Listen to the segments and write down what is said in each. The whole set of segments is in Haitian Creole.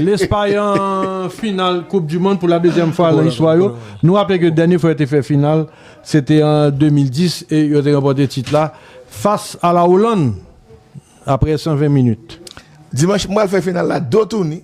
Lespay an final koup du mond pou la dezyèm fwa lan istwa yo. Nou raple ke dènye fwa yo te fè final se te an 2010 e yo te ranpòte tit la fas a la Olann apre 120 minit. Dimanch m pral fè final la do touni.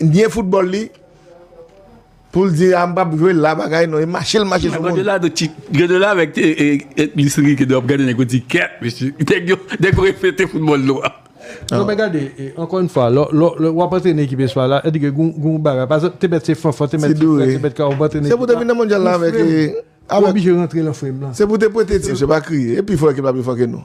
N byen foutbòl li poul di a m pap jwe la bagay non e mache l mache sou moun. Godola avèk Luis Enrique dwe ap gade nèg yo di kèt mesye nèg yo nèg yo refete foutbòl nou an. Non men gade ankò yn fwa lè wap antrene ekip espay la sèdike gen yon bagay pa egzanp te mèt se Fanfan te mèt ti frè te mèt Kawo wap antrene ekip la ou frèm ou oblije rantre lan frèm lan. Se pou te prete ti mesye pa kriye e pi fò ekip la pi fò ke nou.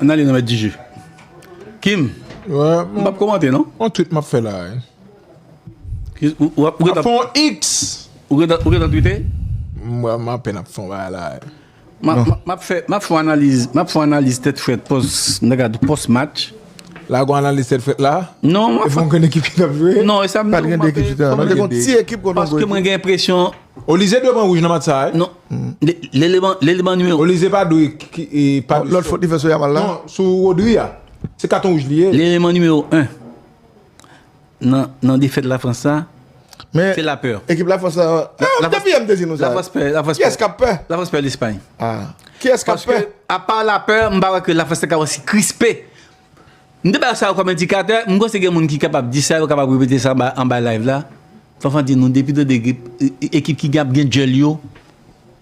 An ale nan mèt di je. Kim, m pap komante non. On tweet m ap fè la. M ap fè on X. Ou gen tan tweete? M apèn ap fè on bagay la. Map fon analiz Map fon analiz tèt frèt pos match. La gon analiz tèt frèt la? Non mwen fon kèn ekip ki tap jwe? Non esam di ou mwen te gon ti ekip kon nan goye. Mwen gen presyon. Olize dwe pran wouj nan match sa a? Non Lele ban nimewo. Olize pa dwe Lòt fot li fè sou yamal la? Non sou Rodri a. Se katon wouj li ye. Lele ban nimewo 1. nan defèt Lafrans sa, se lapè. Men, ekip Lafrans la, depi yè m te di nou sa, kiyès k ap pè? Lafrans pè Lespay. Kiyès k ap pè? Paske, apa lapè, m pa kwè ke Lafrans te ka osi krispe. M te bay sa yo kòm endikatè, m panse gen moun ki kapab di sa, yo kapab repete sa anba live la. Fanfan di nou, depi 2 ekip ki ap gen djèl yo.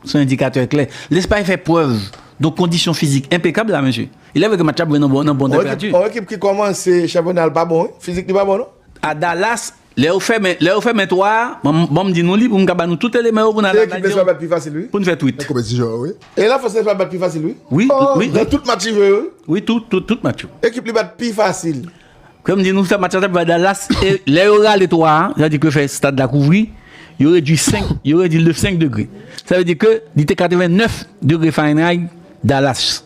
Son endikatè klè. Lespay fè prèv don kondisyon fizik enpekab la mesye. Ilè vre ke match la ap jwe nan bon tanperati. On ekip ki kòmanse chanpyona l pa bon wi. Fizik li pa bon non. A Dallas, lè yo fèmen, lè yo fèmen 3 a, ban m di nou li pou m ka ba nou tout eleman yo pou n al analize yo. Se ekip lespay bat pi fasil wi. Pou n fè twit. Nan konpetisyon an wi. E la fòs lespay bat pi fasil wi. Wi, wi. Nan tout match li jwe yo wi. Wi, tout, tout, tout match yo. Ekip li bat pi fasil. Kòm di nou sa match la tap jwe a Dallas e lè yo rale 3 a, sa vle di ke yo fè stad la kouvri, yo redwi 5, yo redwi l de 5 degre. Sa vle di ke li te 89 degre Fahrenheit Dallas.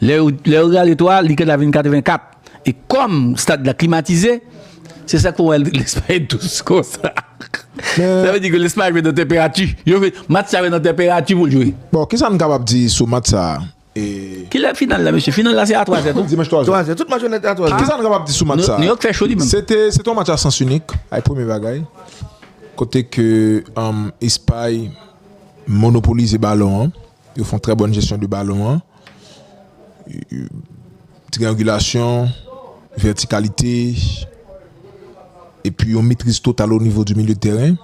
Lè yo, lè yo rale 3 a, li ka ta vin 84. E kòm stad la klimatize, se sa ke wè lè sa fè dous konsa. Sa vle di ke lè sa jwe nan tanperati, yo vle match sa jwe nan tanperati pou l jwe. Bon, kisa n kapab di sou match sa a? E. Kilè final la mesye? Final la se a 3 zè tou? Dimanch 3 zè. 3 zè. Tout match yo nan te a 3 zè. Kisa nou kapab di sou match sa a? Nouyòk fè cho li menm. Se te se te yon match a sans inik, ay premye bagay. Kote ke Espay monopolize balon an. Yo fon trè bòn jesyon de balon an. Triyangilasyon, vètikalite, epi yon metriz total o nivo di milye de tèren.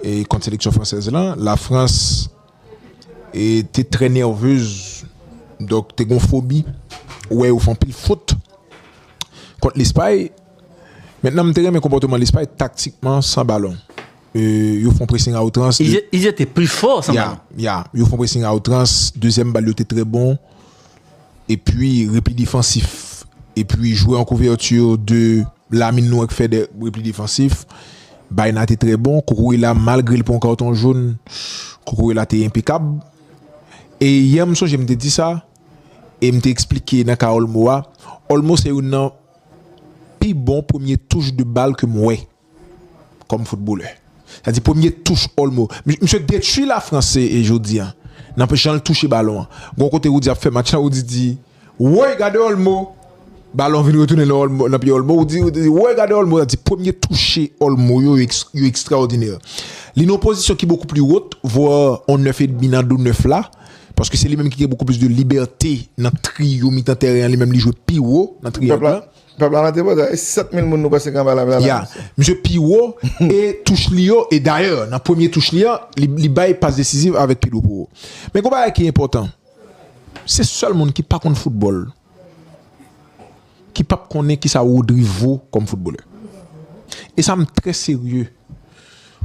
E kont seleksyon fransèz lan, Lafrans te trè nèvez donk te gon fobi wè yo fè anpil fot kont Lespay men nan m te renmen konpòteman Lespay taktikman san balon yo fon presing a outrans yo fon presing a outrans dezyèm bal yo te trè bon epi repi defansif epi jwè an kouvèti yo de Lamin nou ak Fede repli defansif. Baena te trè bon. Cucurella malgre li pran karton jaune, Cucurella te enpekab. E yè m sonje m te di sa e m te eksplike nan ka Olmo a, Olmo se youn nan pi bon premye touch de bal ke m wè kòm foutbolè. Sa di premye touch Olmo. Misye detui Lafrans e jodi an nan jan l touche balon an. Gon kote Roody ap fè match la, Roody di. Woy gade olmo Balon vin retounen nan pye olmo ou di Woy gade olmo Sa vle di premye touche olmo yo yo ekstraòdinè Li nan yon pozisyon ki bokou pli wot vwa yon 9 edmi nan do 9 la paske se li menm ki gen bokou plis de libète nan triyo mitan tèren an Li menm li jwe pi wo nan triyo an Pèp la nan tripotay e 7 mil moun nou panse ki anba lame a Ya Misye pi wo e touch li yo e dayè nan premye touch li an li bay pas desiziv avèk pye dwop Men gon bagay ki enpòtan Se sèl moun ki pa konn foutbòl ki p ap konnen kisa Rodri vo kòm foutbolè. E sa m trè serye.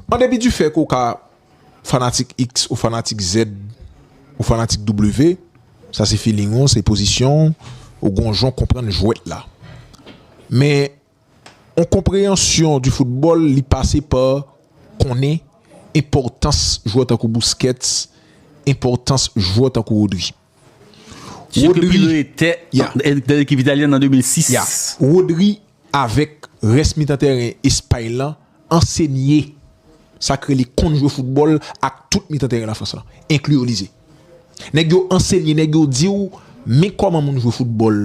An depi difè ke w ka fanatik iks ou fanatik zèd ou fanatik doublevé, sa se filing ou, se pozisyon ou, ou gen yon jan w konprann jwèt la. Men On konpreyansyon di foutbòl li pase pa konnen enpòtans jwè tankou Busquets, enpòtans jwè tankou Rodri. Sye ke Pirlo etè nan ekip italyen an an 2006. Ya. Rodri avèk rès mitan tèren Espay lan ansenye sa k rele konn jwe foutbòl ak tout mitan tèren Lafrans lan, enkli Olise. Nèg yo ansenye, nèg yo di w men kòman moun jwe foutbòl.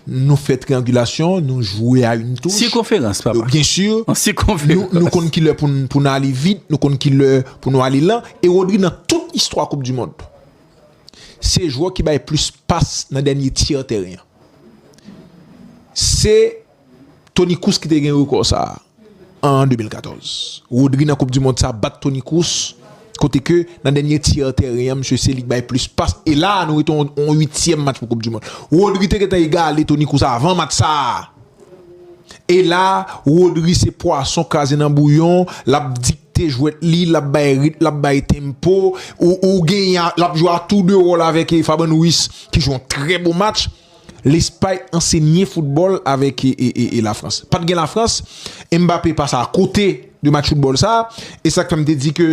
Nou fè triangulasyon, nou jwe a yn touch. Sikonferans papa. Byen si, nou konn kilè pou n ale vit, nou konn kilè pou nou ale lan. E Rodri nan tout istwa koup di mond, se jwè ki bay plis pas nan dènye tyè tèren an. Se Toni Kroos ki te gen rekò sa an 2014. Rodri nan koup di mond sa bat Toni Kroos kote ke nan dènye tyè tèren an msye se li k bay plis pas e la a nou rete on 8 tièm match pou koup di mond. Rodri te gentan egale Toni Kroos avan match sa a e la a Rodri se pwason kraze nan bouyon lap dikte jwèt li lap bay rit lap bay tempo ou genyen lap jwe a tou 2 wòl avèk Fabian Ruiz ki jwe on trè bon match. Lespay ansenye foutbòl avèk Lafrans. Pa t gen Lafrans, Mbappé pase a kote de match foutbòl sa a. E sa k fè m te di ke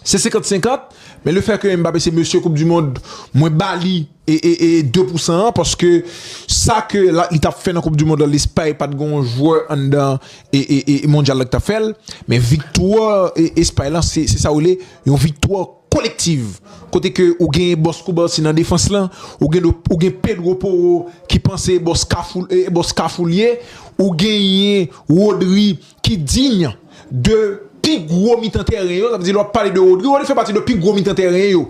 se senkant senkant. Men le fè ke Mbappé se mesye koup di mond, mwen ba li de pou san an. Paske sa ke li t ap fè nan koup di mond la, Lespay pa t gen yon jwè anndan mondyal la ki t ap fè l. Men viktwa Espay la se sa w rele yon viktwa. Collective kote ke ou genyen Boss Koubarsi nan defans lan, ou gen ou gen Pedro Poro ki panse e Boss Kafou e Boss Kafou l ye, ou genyen Rodri ki digne de pi gwo mitan tèren yo, sa vle di lè w ap pale de Rodri, Rodri fè pati de pi gwo mitan tèren yo,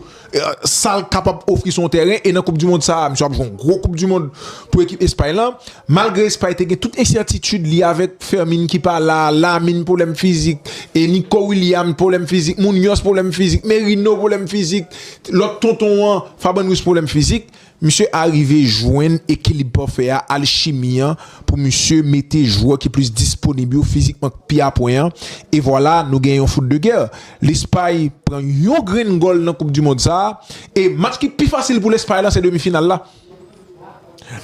sa l kapab ofri se yon tèren e nan koupdimond sa a misye ap jwe yon gwo koupdimond pou ekip Espay lan. Malgre Espay te gen tout ensètitid li avèk Fermin ki pa la, Lamine pwoblèm fizik, Nico Williams pwoblèm fizik, Munoz pwoblèm fizik, Merino pwoblèm fizik, lòt tonton an, Fabian Ruiz pwoblèm fizik, misye arive jwenn ekilib pafè a, alchimi an, pou misye mete jwè ki plis disponib yo fizikman k pi apwen an, e vwala nou gen yon foot de guerre. Lespay pran yon grenn gòl nan koup du mond sa a, e match ki pi fasil pou Lespay la se demi final la.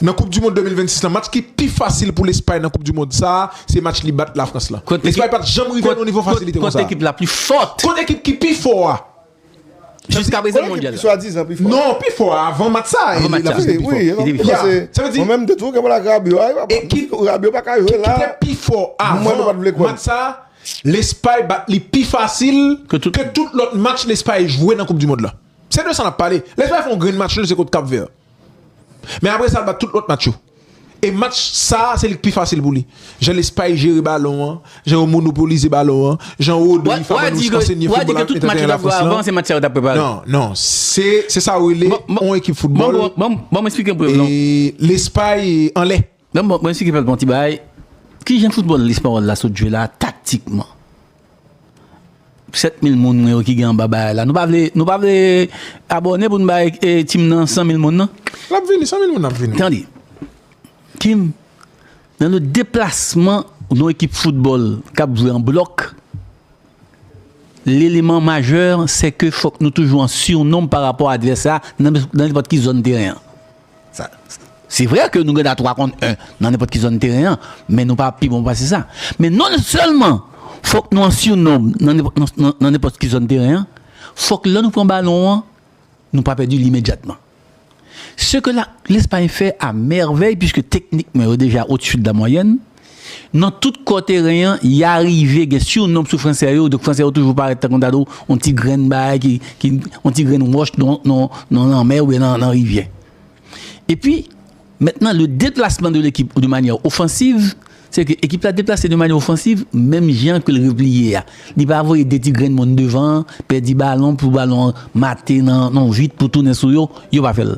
Nan koup du mond 2026 la match ki pi fasil pou Lespay nan koup du mond sa a se match li bat Lafrans la. Lespay pat janm rive nan yon nivo fasilite konsa. Kont ekip la pi fòt. Kont ekip ki pi fò a. Jiska prezan nan mondyal la. Kont ekip ki swa dizan pi fò. Non pi fò a avan match sa a. Avan match sa a. Wi wi. Li te pi fò. Sa vle di. Mwen menm de tou kèm la ak Rabio a. Ekip Rabio pa ka jwe la. Ekip ki te pi fò avan match sa a. Lespay bat li pi fasil. Ke tout lòt match Lespay jwe nan koup du mond la. Se de sa nap pale. Lè Espay fè yon grenn match li se kont Kap Vè. Men apre sa l bat tout lòt match yo. E match sa a se li k pi fasil pou li. Jan Lespay jere balon an, jan yo monopolize balon an, jan Rodri, Fabregas ansenye foutbòl ak entèteryen Lafrans lan. Non, non. Se sa ou rele yon ekip foutbòl. Lespay anlè. Nan bon, mwen esplike pèp la yon ti bagay, ki jan foutbòl lespanyòl la sot jwe la taktikman? 7 mil moun mwen yo ki gen anba bagay la, nou pa vle, nou pa vle abòne pou nou bay Tim nan 100 mil moun nan? L ap vini, 100 mil moun ap vini. Tande, Tim, nan le deplasman yon ekip foutbòl k ap jwe an blòk, leleman majè sè ke fòk nou toujou an sirnonb pa rapò a advès la nan nenpòt ki zòn teren an. Se vre ke nou gen dwa 3 kont 1 nan nenpòt ki zòn teren an, men nou pa pi bon pase sa. Men non sèlman fòk nou an sirnonb nan nenpòt ki zòn teren an, fòk lè nou pran balon an, nou pa pèdi li imedyatman. Se ke Lespay fè a mèvèy, puiske teknikman yo deja otsu de la moyenne, Nan tout kò teren an, ya rive gen sirnom sou Franse yo, donk Franse yo toujou parèt tankou ta di yon ti grenn bagay ki, ki, yon ti grenn wòch nan, nan, nan lanmè oubyen nan, nan rivyè. Epi, mentnan le deplasman de lekip de manyè ofansiv, se ke ekip la deplase de manyè ofansiv menm jan ke l repliye a. Li pa voye de ti grenn moun devan an, pèdi balon pou balon an mate nan, nan vit pou tounen sou yo, yo pa fè l.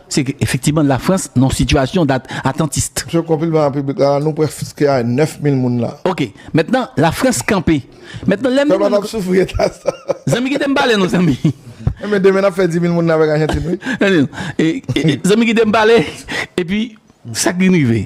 Se efektiman Lafrans nan sitiyasyon dat atantist. Msye konpilman a piblik la, nou prèske a 9 mil moun la. Ok, mentnan Lafrans kanpe. Mentnan lè m Pèp la tap soufri eta sa. Zanmi kite m pale nou zanmi. Enben demen nap fè 10 mil moun nan avèk Ajantin wi. Zanmi kite m pale, epi sak vin rive.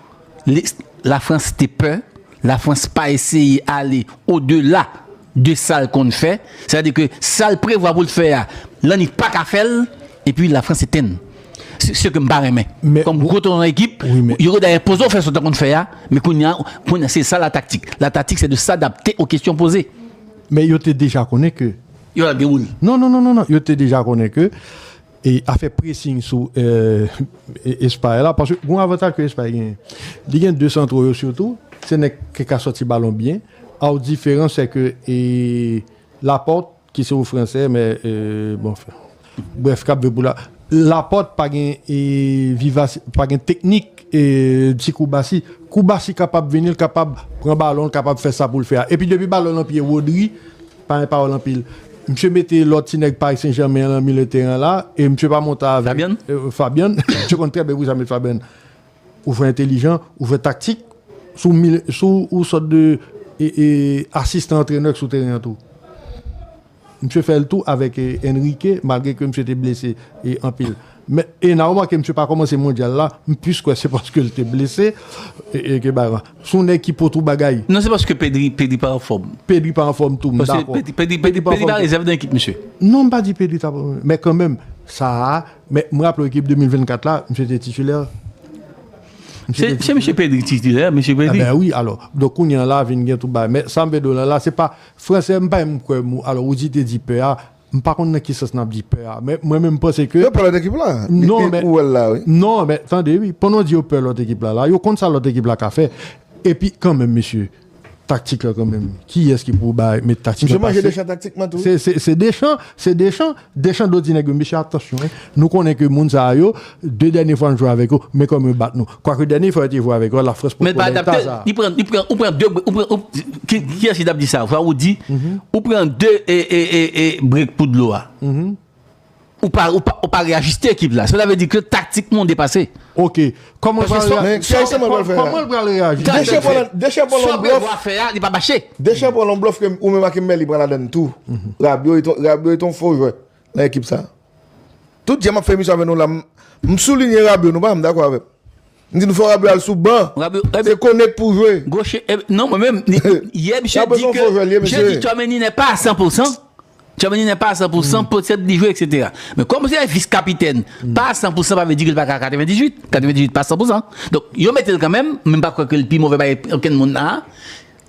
La France te pè, la France pa eseye ale o dela de sal konn fè, sa di ke sal prevwa poul fè a, lannik pa ka fèl, epi la France etenn. Se kem pa renmen. Kom gwo ton ekip, yo gen dèyè poze w fè sa w ta konn fè a, men kounya, kounya se sa la taktik. La taktik se de sadapte o kesyon poze. Men yo te deja konnen ke. Yo al gen moun. Non non non non non, yo te deja konnen ke e afè pressing sou Espay la paske gon avantaj ke Espay genyen li gen 2 santro yo sitou se nèg ki ka sòti balon byen aw diferans se ke Laporte ki se yon fransè men bon brèf kap jwe pou la Laporte pa gen vivas pa gen teknik ti koubasi koubasi kapab vini l kapab pran balon l kapab fè sa pou l fè a epi depi balon nan pye Rodri Pa gen pawòl anpil. Misye mete lòt ti nèg Paris Saint Germain an lan milye teren an la e misye pa monte avèk Fabian. Fabian. Misye konn trè byen pou ki sa met Fabian. Ou jwe entelijan, ou jwe taktik, si w mil, si w yon sòt de asistan antrenè ki sou teren an tou. Misye fè l tou avèk Enrique malgre ke misye te blese anpil. Men e na remake misye pa komanse mondyal la, m plis kwè se paske l te blese e ke bagay lan. S on nèg ki po twou bagay. Non se paske Pedri, Pedri pa anfòm. Pedri pa anfòm tou, m dakò. Paske Pedri, Pedri pa anfòm tou. Pedri pa rezèv nan ekip misye. Non m pa di Pedri ta pa rezèv, men kanmenm sa a, men m raple w ekip 2024 la, misye te titilè. Se misye Pedri ki titilè, misye Pedri. Enben wi alò, donk kounye an la vin gen tout bagay. Men sa m vle di w lan la se pa, fransè m pa menm kwè mo, alò ou di te di pè a. M pa konn nan ki sans nap di pè a men mwen menm panse ke Yo pè lòt ekip la Non men Ou wèl la wi Non men tande wi pandan w di yo pè lòt ekip la la yo konn sa lòt ekip la ka fè epi kanmenm mesye taktik la kanmenm kiyès ki pou bay met taktik la Misye manje Deschamps taktikman tou wi Se Deschamps se Deschamps Deschamps do di nèg yo mesye atansyon nou konnen ke moun sa yo 2 dènye fwa n jwe avèk yo, men kòman yo bat nou. Kwake dènye fwa yo te jwe avèk yo a, Lafrans potko bay eta sa a. Kiyès ki t ap di sa? Fwa ou di, ou pran 2 brek pou dlo a. Ou pa reyajiste ekip la. Sela vle di ke taktikman ou depase. Ok. Kòman l pral reyajiste? Sa Benoît ap fè a, li pa mache. Deschamps pran yon blòf ke ou menm ak Emery pran ladann tou. Rabiot e ton fo jwè. Nan ekip sa. Tout jan map fè emisyon avè nou la m soulinye Rabio nou pa janm dakò avèm. M di nou fò Rabio al sou ban. Se Konek pou jwe. Non mwen menm yè misye di ke je di Tchouameni nè pa a 100 pou 100. Tchouameni nè pa a 100 pou 100 potèt li jwe eksetera. Men kòm se vis kapitèn pa a 100 pou 100 pa vle di ke l pa ka a 98. 98 pa 100 pou 100. Donk yo mete l kanmenm men m pa kwè ke l pi move pase okenn moun la a.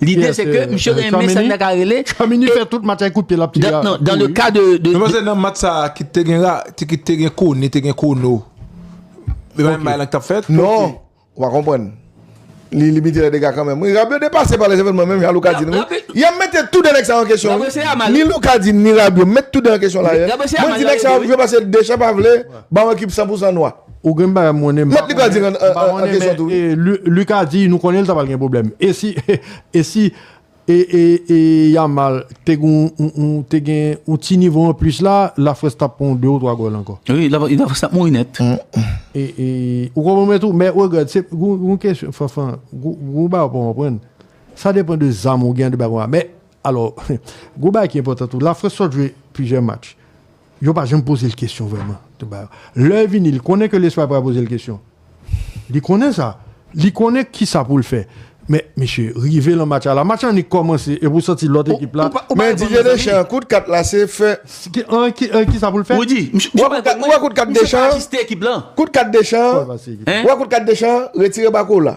Lide se ke misye renmen sa nèg la rele. Tchouameni fè tout match avèk kout pye l ap tire a. Nan le ka de. Mwen panse nan match sa a ki te gen ra, ki te gen koni, te gen kono. Li pa menm bagay lan ki t ap fèt. Non! Ou pa konprann. Li limite lè dega kanmenm wi. Rabio depase pa lè evènman menm jan Luca di la wi. Y ap mete tou de nèg sa yo an kesyon wi. Rabio se Yamal. Ni Luca di ni Rabio met tou de yo an kesyon la. Rabio se Yamal. Mwen di nèg sa yo jwe paske Deschamps pa vle ba yon ekip 100 pou 100 nwa. Ou gen bagay mwen konnen Mèt li pral di nan nan kesyon tou wi. Luc a di nou konnen li ta pral gen pwoblèm e si e si e Yamal te gon te gen yon ti nivo anplis la la Frans tap pran yon 2 ou 3 gòl ankò. Wi la Frans tap mouri nèt. E e ou konprann mwen tou men regrèt se yon kesyon Fanfan yon bagay ou pa konprann sa depan de zam ou gen an de bagay konsa men alò yon bagay ki enpòtan tou la Frans sot jwe plizyè match Yo pa janm poze l kesyon vrèman. Lè l vini, li konnen ke Lespay pral poze l kesyon. Li konnen sa. Li konnen kisa pou l fè. Men, mesye, rive lan match a la, match la annik kòmanse epi w santi lòt ekip la. Ou pa di ke Deschamps, kout kat la se fè. Kisa pou l fè? Rudy, misye pa ajuste ekip lan. Ou wè kout kat Deschamps? Kout kat Deschamps, wè kout kat Deschamps, retire bako w la.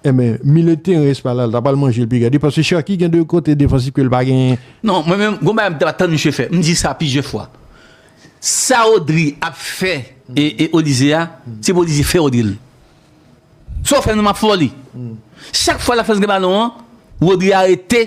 Enben, milieu teren Espa la, l ta pral manje l pi gade. Paske Cherki gen 2 kote defansif ke l pa genyen. Non, mwen menm, gon bagay m t ap tann misye fè. M di sa plizyè fwa. Sa Rodri ap fè Olise a, se pou Olise fè Rodri l. Sa w fè m nan m ap fè w li. Chak fwa l ap fè l gen balon an, Rodri arete.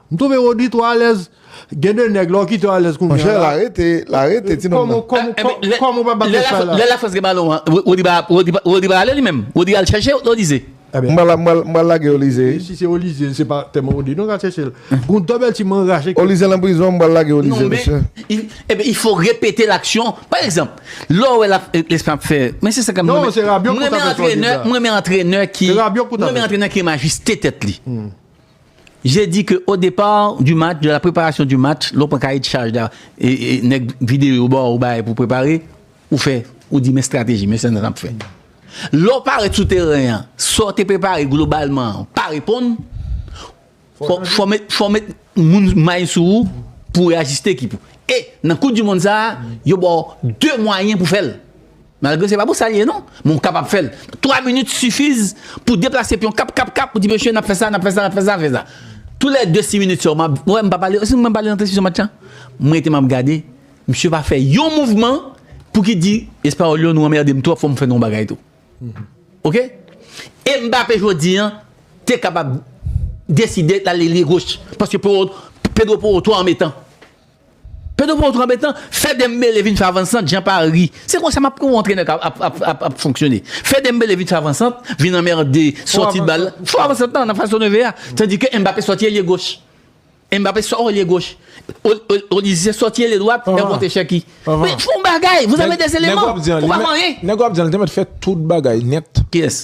M twouve Roody two alèz Gen de nèg la w kite yo alèz kounya la. Monchè la rete la rete ti nonm nan. Kòm ou pa bat yo sa la. Lè la France gen balon an Roody pa Roody pa ale li menm Roody al chèche yo Lize. M pral m pral lage yo Lize. Si se yo Lize se pa tèlman Roody non k al chèche l. Gon double team an rache kè. Yo Lize lan prizon m pral lage yo Lize mesye. Ebyen il faut répéter l'action pa egzanp lè w wè lap Leslie ap fè men se sa ke m renmen m renmen antrenè m renmen antrenè ki m renmen antrenè ki majeste tèt li. J'ai dit que au départ du match, de la préparation du match, lè w pran kaye de chaj la, nèg videyo yo ba w bagay pou w prepare, ou fè, ou di men strateji, men sa n ap fè. Lè w parèt sou teren an, sa w te prepare globalman an pa reponn, fò w met moun may sou ou pou w reyajiste ekip ou. E nan koup dimonn sa a, yo ba w 2 mwayen pou w fè l. Malgre se pa pou sa l ye non, men w kapab fè l. 3 minit sifiz pou deplase pyon kap kap kap pou di mesye n ap fè sa, n ap fè sa, n ap fè sa, n ap fè sa. Tou lè 2 si minit sa yo m ap, wè m pa pale, si m pa pale nan transmisyon match lan, m rete m ap gade, misye pa fè yon mouvman pou ki di espayòl yo nou anmède m twòp fò m fè nou yon bagay tou. Ok? E Mbappé jodi an te kapab deside l ale lye goch paske Pedro Porro twò anmetan. Pedro pran yon tro anbetan, fè Dembele vin fè avansant jan Paris, se konsa map yon antrenè ka ap fonksyone. Fè Dembele vin fè avansant, vin anmerde sòti bal la, fo avansant nan fas to neve a, tandi ke Mbappé sòti elye goch. Mbappé sò elye goch, Olise sòti elye dwat, e ou monte Cherki. Men fon bagay, vous avez des éléments, ou pa fè anyen. Nèg wap di an li te mèt fè tout bagay nèt. Kiyès?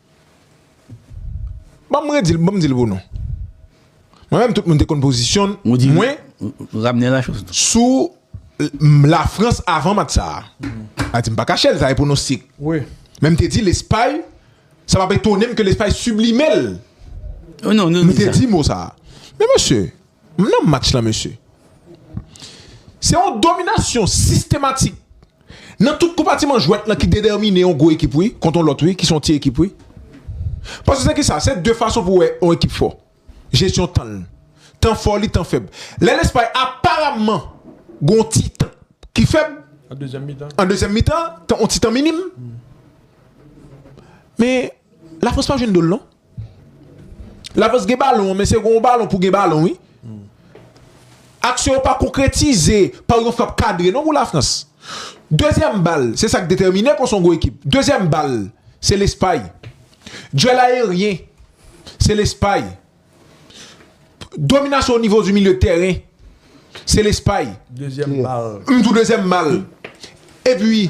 Ban m redi l, ban m di l pou nou. Mwen menm tout moun te konn pozisyon mwen sou Lafrans avan match sa a. A di m pa kache l, sa e pwonostik. Men m te di Lespay, sa pa p etone m ke Lespay siblime l. M te di mo sa a. Men mesye, m nan match la mesye. Se yon dominasyon sistematik Nan tout konpatiman jwèt lan ki dedèmine yon gwo ekip wi kont yon lòt wi ki se yon ti ekip wi. Paske se kisa? Se de fason pou wè yon ekip fò. Jesyon tan l. Tan fò li, tan fèb. Lè Lespay aparamman gen yon ti tan ki fèb an dezyèm mitan, yon ti tan minim men Lafrans pa jwenn do l non. Lavans gen balon, men se gen yon balon pou gen balon wi. Aksyon yo pa konkretize pa yon frap kadre non pou Lafrans. Dezyèm bal, se sa k detèmine konsa yon gwo ekip. Dezyèm bal, se Lespay. Dwèl ayeryen, se Lespay. Dominasyon o nivo di milye de tèren, se Lespay. Dezyèm bal. Toujou dezyèm bal. Epi.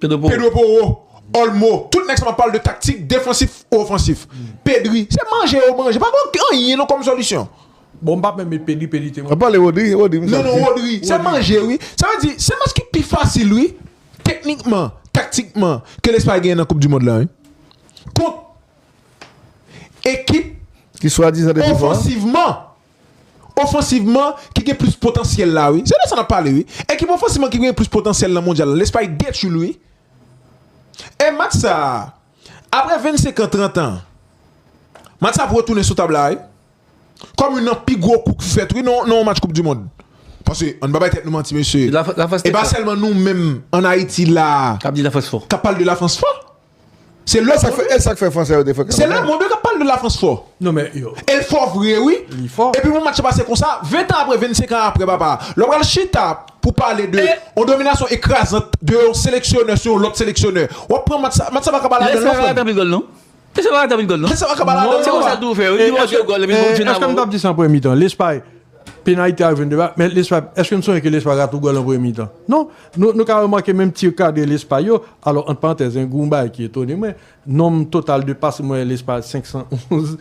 Pedro Porro, Olmo, tout nèg sa map pale de taktik defansif ou ofansif. Pedri, se manje yo manje, pa gen anyen non kòm solisyon. Bon m pap menm met Pedri, Pedri te. Wap pale Rodri, Rodri m sal di. Non non Rodri, se manje wi. Sa vle di, se match ki pi fasil wi, teknikman, taktikman ke Lespay genyen nan koup dimond lan wi. Kont ekip ki swadizan de pi fò. Ofansivman, Ofansivman ki gen plis potansyèl la wi. Se de sa nap pale wi. Ekip ofansivman ki gen plis potansyèl nan mondyal la. Lespay detwi l wi. E match sa, apre 25 an, 30 an, match sa ap retounen sou tab la wi. Kòm youn nan pi gwo kou ki fèt wi nan yon match koup di mond. Paske ann pa bay tèt nou manti mesye. E pa sèlman nou menm ann Ayiti la kap pale de Lafrans fò. Se lè sak fè e sak fè fransè yo te fè kanmè. Se lè moun yo kap pale de la France fò. Non men yo. El fò vre wi. Li fò. Epi pou match pase konsa 20 tan apre 25 an apre papa lè w pral chita pou pale de yon dominasyon ekrazant de yon seleksyonè sou yon lòt seleksyonè wap pran match sa match sa paka ba ladann non frè m. Lè sa pa ka tanpri gòl non. Lè sa pa ka ba ladann non. Se konsa tou fè wi li montre gòl epi bon fina. Eske m tap di sa an premye mitan Lespay penayte a jwenn de ba men Lespay eske m sonje ke Lespay rate yon gòl an premye mitan non. Nou ka remake menm ti kadre lespay yo, alò ant parantèz gen yon bagay ki etone mwen, nonm total de pase mwen lespay 511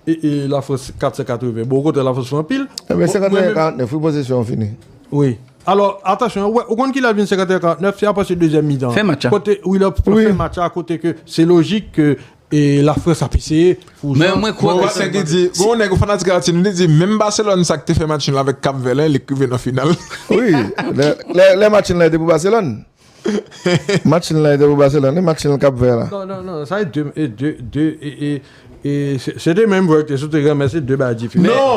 e Lafrans 480, bon okontrè Lafrans fè anpil. Ebyen 51 e 49 wi posesyon an fini. Wi. Alò atansyon, ou konn kilè vin 51 e 49, se apati dezyèm mitan an. Fen match a. Kote Willer fè match a kote ke se lojik ke E la France ap eseye fou jan. Mwen kwè ke se bon. Gen yon nèg yon fanatik Haïti nou li di menm Barcelone sa ki te fè match nul avèk Cap Vert la li k rive nan final. Wi lè match nul la te pou Barcelone. Match nul la te pou Barcelone wi match nul Cap Vert la. Non non non sa e 2 e 2 e 2 e e e se 2 menm jwè ki te sou teren men se 2 bagay diferan. Non